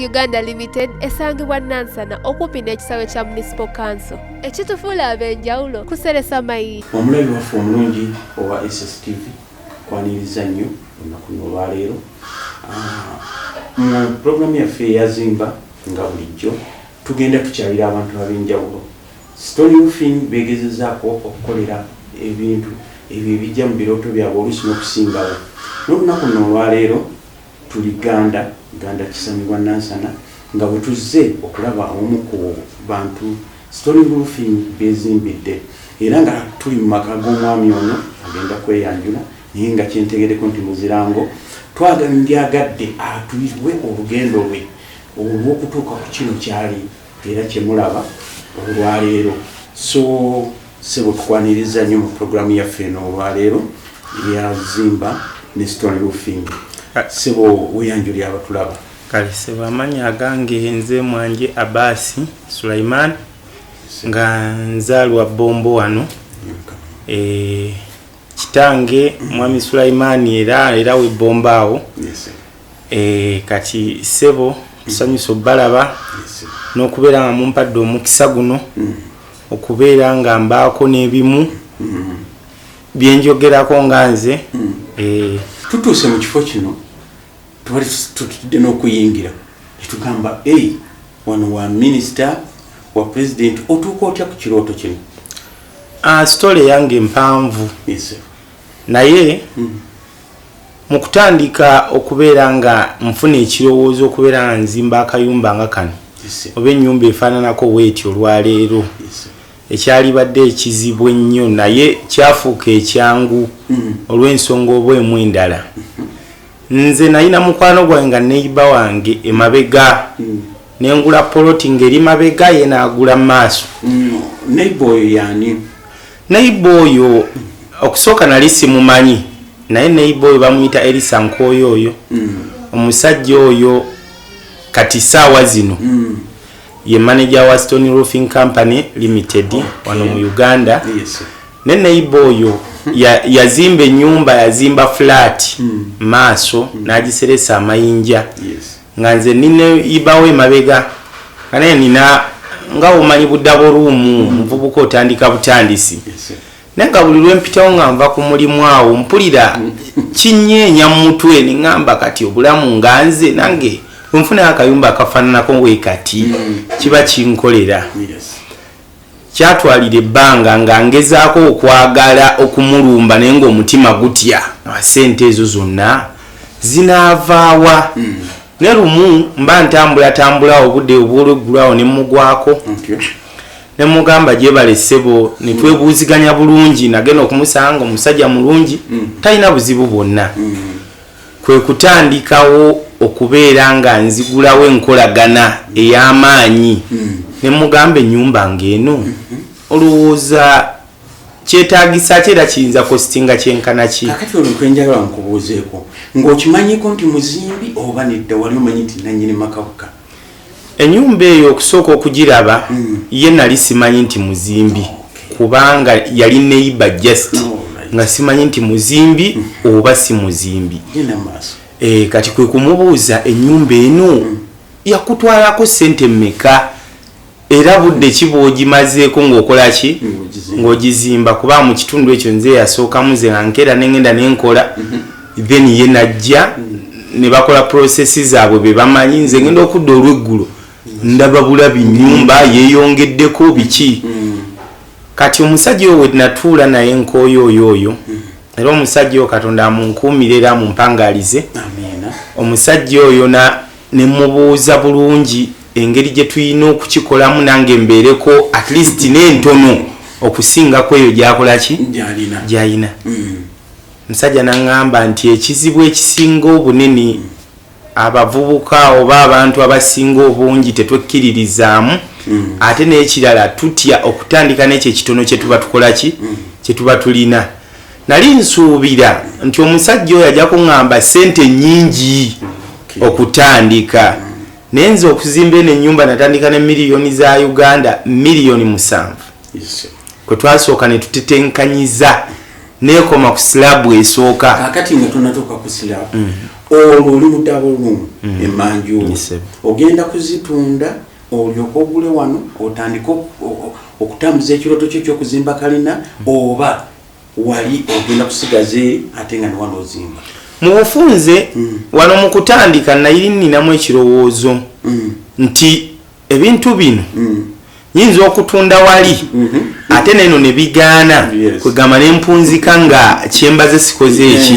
Uganda Limited esangibwa Nansana okumpi n'ekisaawe kya Municipal Council ekitufuula ab'enjawulo kuseresa mayi. Omulabi waffe omulungi owa SSTV kwaniriza nnyo olunaku olwaleero ah, mu pulogulaamu yaffe eyazimba nga bulijjo tugenda tukyalira abantu ab'enjawulo. Stone Roofing beegezezaako okukolera ebintu ebyo ebijja mu birooto byabwe oluusi n'okusingawo. N'olunaku luno olwaleero Tuli Gganda, Gganda Kisamibwa Nansana nga bwe tuzze okulaba omu ku bantu Stone Roofing b'ezimbidde era nga tuli mu maka g'omwami ono agenda kweyanjula naye nga kye ntegeddeko nti muzirango twagala ndyagadde atuyiwe olugendo lwe olw'okutuuka ku kino kyali era kyemulaba olwaleero so sebo tukwaniriza nnyo mu programu yaffe eno olwaleero ya zimba ne stone roofing ah. sebo weyanjuli abatulaba kale sebo amanyi agange nze mwanje abasi sulaiman nga nzaalwa bombo wano eh, kitange mwami sulaimani era era webbombaawo Eh, kati ssebo nsanyusa obalaba n'okubeera nga mumpadde omukisa guno mm. okubeera nga mbaako n'ebimu mm. byenjogerako nga nze mm. eh. tutuuse mu kifo kino tubali tutudde n'okuyingira netugamba e wano wa minisita wa pulezidenti otuuka otya ku kirooto kino ah, sitole yange mpanvu naye Mu kutandika okubeera nga nfuna ekirowoozo okubeera nga nzimba akayumba nga kano oba ennyumba efaananako weeti olwaleero ekyalibadde ekizibu ennyo naye kyafuuka ekyangu mm. olw'ensonga oba emu endala mm-hmm. nze nayina mukwano gwange nga neiba wange emabega mm. nengula poloti ngeri mabega ye naagula maaso mm. neiba oyo yani neiba oyo okusooka nali simumanyi naye neiba oyo bamuyita erisa nkooyo oyo mm. omusajja oyo kati saawa zino mm. ye manager wa stone roofing company limited okay. wano mu uganda yes. ne neiba oyo yazimba ya enyumba yazimba flat mm. maaso mm. nagiseresa amayinja yes. nga nze nine ibawo emabega nga naye nina nga omanyi budabo ruumu mm. muvubuka otandika butandisi naye nga buli lwempitawo nga nva ku mulimu awo mpulira mm. kinyeenya mu mutwe neŋamba kati obulamu nga nze nange wenfunayo akayumba akafaananako wekati mm. kiba kinkolera Kyatwalira ebbanga nga ngezaako okwagala okumulumba naye ng'omutima gutya. Ssente ezo zonna zinaavaawa? Hmm. Ne lumu mba ntambulatambula obudde obw'olweggulo awo ne mmugwako ne mugamba gyebale ssebo ne hmm. twebuuziganya bulungi nagenda okumusanga omusajja mulungi hmm. talina buzibu bwonna. Kwe kutandikawo okubeera nga nzigulawo enkolagana ey'amaanyi ne mmugamba ennyumba ng'eno olowooza kyetaagisa ki era kiyinza kositinga kyenkana ki? Kaakati olwo kwe njagala nkubuuzeeko, ng'okimanyiko nti muzimbi oba nedda wali omanyi nti nnannyini maka bukka? Enyumba eyo okusooka okugiraba ye nali simanyi nti muzimbi kubanga yali neiba just oh, nga simanyi nti muzimbi mm. oba si muzimbi eh, kati kwe kumubuuza enyumba eno mm. yakutwalako sente meka era budde ki bwogimazeeko ngaokolaki ng'ogizimba kuba mu kitundu ekyo nze yasookamu ze nga nkeera nengenda nenkola mm-hmm. then ye najja ne bakola process zaabwe be bamanyi nze ngenda okudda olweggulo ndaba bulabi nyumba yeyongeddeko biki kati omusajja oyo wenatuula naye nkooyo oyo oyo era omusajja oyo katonda amunkuumira era amumpangalize omusajja oyo ne mubuuza bulungi engeri gye tulina okukikolamu nange mbeereko at least n'entono okusinga ku eyo gyakola ki gyalina mm. Musajja nangamba nti ekizibu ekisinga obunene abavubuka oba abantu abasinga obungi tetwekkiririzaamu mm. ate n'ekirala tutya okutandika n'ekyo ekitono kye tuba tukola ki mm. kye tuba tulina nali nsuubira nti omusajja oyo ajja kuŋŋamba ssente nnyingi okutandika mm. naye nze okuzimba eno ennyumba natandika ne miliyoni za uganda miliyoni musanvu kwe twasooka ne tutetenkanyiza nekoma ku silabu esooka kakati nga tonatuuka ku silabu mm. olwo oli mudabo lumu mm. emanju ogenda kuzitunda olyoka ogule wano otandike okutambuza ekiroto kyo kyokuzimba kalina mm. oba wali ogenda kusigaza eri ate nga newano ozimba mu bufunze wano mu kutandika nayiri ninamu ekirowoozo nti ebintu bino mm. nyinza okutunda wali mm-hmm. ate neno ne bigaana kwegamba ne mpunzika nga kyembaze sikoze eki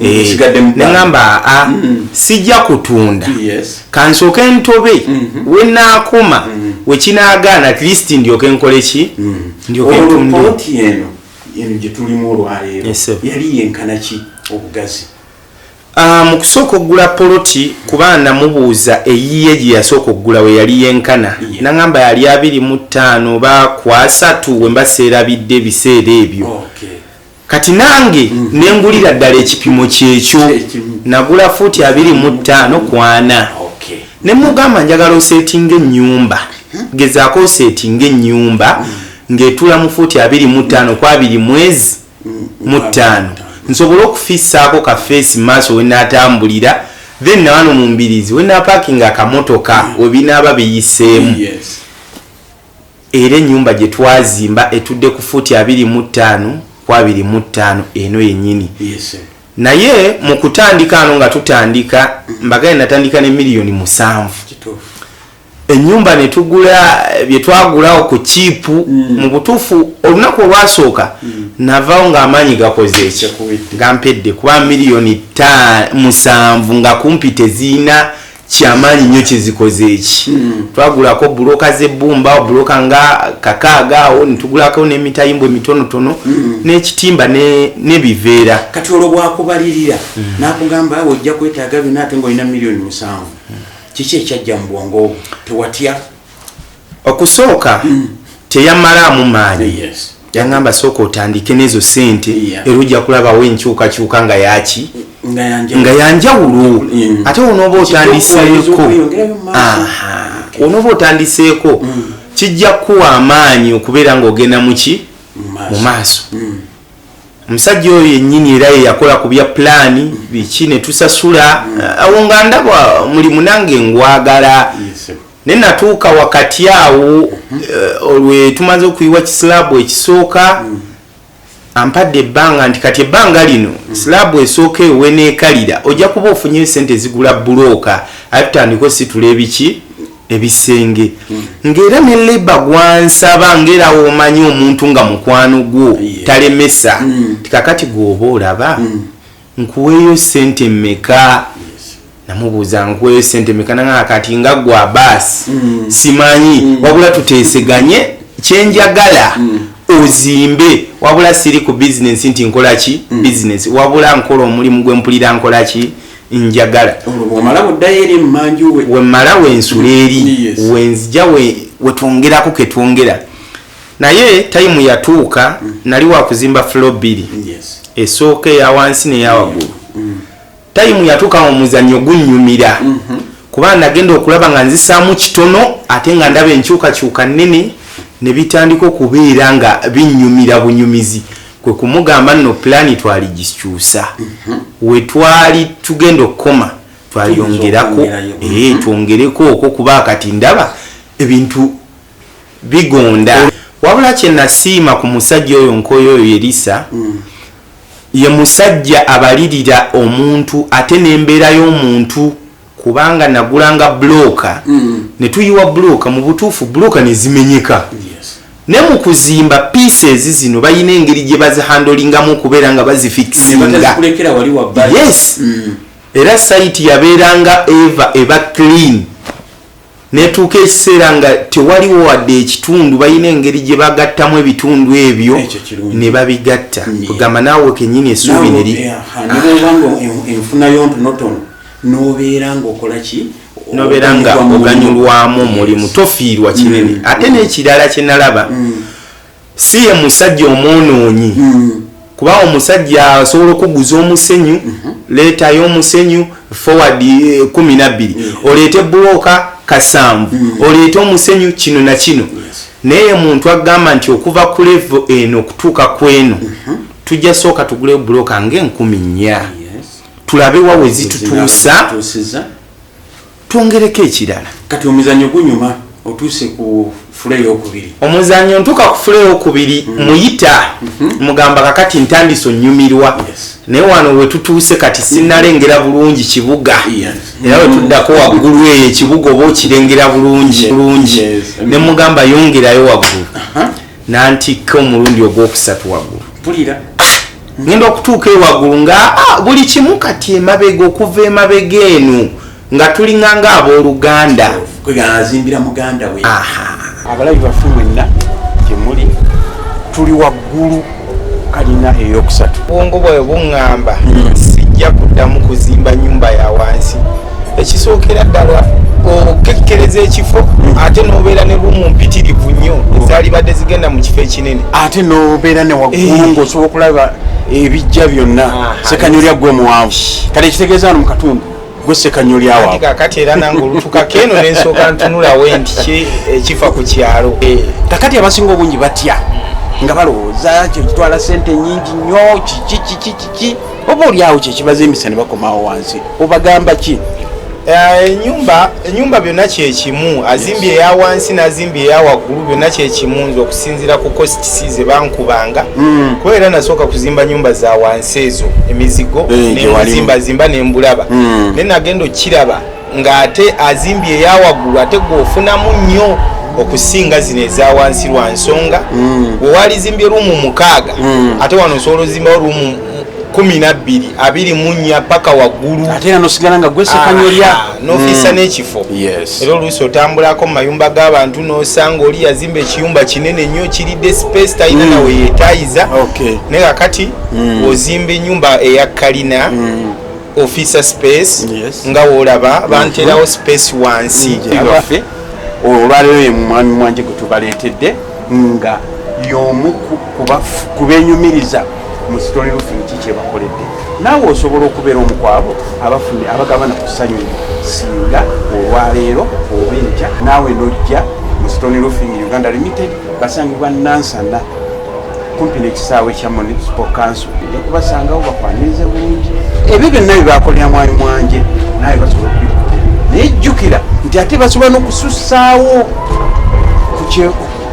eh, neŋamba a ah, mm-hmm. sijja kutunda kansooke ntobe mm-hmm. wenaakoma wekinagaana at least ndyoke nkole ki ndyoke ntunde eno gyetulimu olwaleero yali yenkanaki obugazi Ah, mu kusooka okugula poloti kuba namubuuza eyiye gye yasooka okugula we yali yenkana naŋamba yali abiri mu ttaano oba kwasatu we mba seerabidde ebiseera ebyo kati nange mm. ne ngulira ddala ekipimo kyekyo nagula fuuti abiri mu ttaano kwana ne mugamba njagala oseetinga ennyumba mm-hmm. gezaako oseetinga ennyumba mm. ng'etula mu fuuti abiri mu ttaano ku abiri mwezi mu ttaano nsobole okufisaako ka feesi maaso we naatambulira then nawano mu mbirizi we napaakinga akamotoka mm. webinaaba biyiseemu era ennyumba gye twazimba etudde ku fuuti abiri mu ttaano ku abiri mu ttaano eno yennyini naye mu kutandika ano nga tutandika mm. mbagale natandika ne miliyoni musanvu enyumba netugula byetwagulawo ku kiipu mm. mu butuufu olunaku olwasooka mm. navawo ng'amaanyi gakoze ekyo gampedde kuba miliyoni musanvu nga kumpi teziina kyamaanyi nnyo kyezikoze eki hmm. twagulako buloka zebbumba buloka nga kakaaga awo netugulako nemitayimbo emitonotono hmm. nekitimba nebiveera kati olwo bwakubalirira hmm. nakugamba awo ojja kwetaaga byona ate ngaolina miliyoni musanvu kiki ekyajja mu bwongo obwo tewatya okusooka mm. teyamalaamu maanyi yes. yangamba sooka otandike nezo sente yeah. era ojja kulabawo enkyukakyuka nga yaki nga yanjawulo mm. ate onooba otandiseeko onooba otandiseeko mm. kijja kukuwa amaanyi okubeera ngaogenda muki mu maaso mm. omusajja oyo yennyini era ye yakola ku bya pulaani biki ne tusasula mm. eh, awo nga ndaba mulimu nange ngwagala ne natuuka wakati awo mm-hmm. eh, olwe tumaze okuyiwa kisilaabu ekisooka mm. ampadde ebbanga nti kati ebbanga lino mm. silaabu esooka eyo weneekalira ojja kuba ofunyeyo sente ezigula bulooka aye tutandika ositula ebiki ebisenge ng'era ne leba gwansaba ng'era womanyi omuntu nga mukwano gwo talemesa mm. tikakati gwoba olaba mm. nkuweeyo sente meka namubuuza nkuweeyo sente meka nanga kati nga gwa baasi mm. simanyi wabula tuteeseganye kyenjagala ozimbe wabula siri ku bizinensi nti nkolaki bizinensi wabula nkola omulimu gwempulira nkolaki njagala wemala wensula eri wenzija wetwongerako ketwongera naye tayimu yatuuka mm. nali wakuzimba flo bbiri esooka eyawansi neyawagulu mm. mm. tayimu yatuuka mu muzanyo gunyumira mm-hmm. kuba nagenda okulaba nga nzisaamu kitono ate nga ndaba enkyukakyuka nnene ne bitandika okubeera nga binyumira bunyumizi kwe kumugamba nno pulaani twaligikyusa mhm. we twali tugenda okukoma twayongerako eh, mhm. twongereko okwo kuba kati ndaba ebintu bigonda wabula kyenasiima ku musajja oyo nkoyo oyo yerisa mm. ye musajja abalirira omuntu ate nembeera y'omuntu kubanga nagulanga bloka mm. netuyiwa bloka mubutuufu bloka nezimenyeka ne mukuzimba pieces zino bayina engeri gye bazihandolingamu okubeera nga bazifikisinga yes mm. era site yabeeranga eva eba clean netuuka ekiseera nga tewaliwo wadde ekitundu balina engeri gye bagattamu ebitundu ebyo ne babigatta kugamba naawe kenyini esuubi neri nobeera ngaokola ki nobeera nga oganyulwamu omulimu tofiirwa kinene mm. ate n'ekirala kyenalaba mm. si ye musajja omwonoonyi mm. kuba omusajja asobola okuguza omusenyu mhm. leetayo omusenyu forward eh, kumi nabbiri mm. oleete bulooka kasanvu mm. oleete omusenyu kino na kino naye muntu agamba nti okuva ku levo eno okutuuka ku eno mhm. tujja sooka tuguleyo bulooka ngaenkumi nnya tulabe wawe zitutuusa twongereko ekirala kati omuzanyo gunyuma otuuse ku fuleyokubiri omuzanyo ntuka ku fuleyokubiri mm. muyita mhm. mugamba kakati ntandisa onyumirwa naye wano wetutuuse kati sinalengera bulungi kibuga era wetuddako waggulu eyo ekibuga oba okirengera bulungi bulungi nemugamba yongerayo waggulu nantikka omulundi ogwokusatu waggulu mpulira ngenda okutuuka ewaggulu nga ah, buli kimu kati emabega okuva emabega eno nga tulinga nga abooluganda kweazimbira muganda we abalabi bafu mwenna gyemuli tuli waggulu kalina eyokusatu bwongo bwayo buŋŋamba hmm. sijja kuddamu kuzimba nyumba ya wansi ekisookera ddala okekkereza ekifo ate nobeera ne rumu mpitirivu nnyo ezalibadde zigenda mu kifo ekinene ate nobeera ne waggulu eh. ngaosobola okulaba ebijja byonna sekanyolya gwe muwanvu kati ekitegeeza wano mu katundu gwe sekanyolya wawe kakati era nange olutukako eno nensooka ntunulawo nti ekifa eh, ku kyalo eh. kakati abasinga obungi batya nga balowooza kyekitwala sente nyingi nnyo kiki kiki kiki oba olyawo kyekibaza emisa nebakomawo wansi obagamba ki eh, enyumba enyumba byonna kyekimu azimbye eya wansi nazimbye eya waggulu byonna kyekimu nze okusinzira ku kositisi ze bankubanga hmm. kuba era nasooka kuzimba nyumba za wansi ezo emizigo eh, nemuzimba zimba nembulaba hmm. naye nagenda okukiraba ng'ate azimbye eyawaggulu ate gwe ofunamu nnyo okusinga zino eza wansi lwa nsonga mm. we walizimbye ruumu mukaaga mm. ate wano osobola ozimbawo ruumu kumi nabbiri abiri munya paka waggulu ateanosigala nga gwesekanyolya ah, nofisa mm. n'ekifo era oluusi otambulako mu mayumba g'abantu n'osanga oli yazimba ekiyumba kinene nnyo kiridde space talina mm. nawe yetayiza naye kakati mm. ozimba enyumba eya kalina officer space yes. nga wolaba mhm. banterawo space wansi mhm. waffe olwaleero ye mwami mwanje gwe tubaleetedde nga yomu kubenyumiriza mu story roofing ki kyebakoledde naawe osobola okubeera omukwabo abafuni abagabana ku ssanyu singa olwaleero oba enkya naawe nojja mu story roofing uganda limited basangibwa nansana kumpi nekisaawe kya municipal council nja kubasangawo bakwanirize bulungi ebyo byonna byebakolera mwali mwanje naye basobola okubikola naye jjukira nti ate basobola nokusussaawo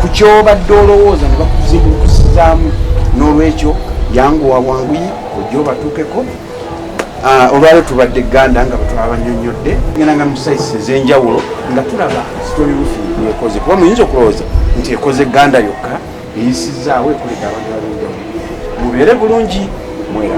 ku kyobadde olowooza ne bakuzibukusizaamu n'olwekyo yanguwa wanguyi ojja obatuukeko ah, olwaleo tubadde ganda nga bwetwabanyonyodde genda nga musaisi ezenjawulo nga tulaba sitori rufi yekoze kuba muyinza okulowooza nti ekoze ganda yokka eyisizzaawo ekulidde abantu abenjawulo mubeere bulungi mwera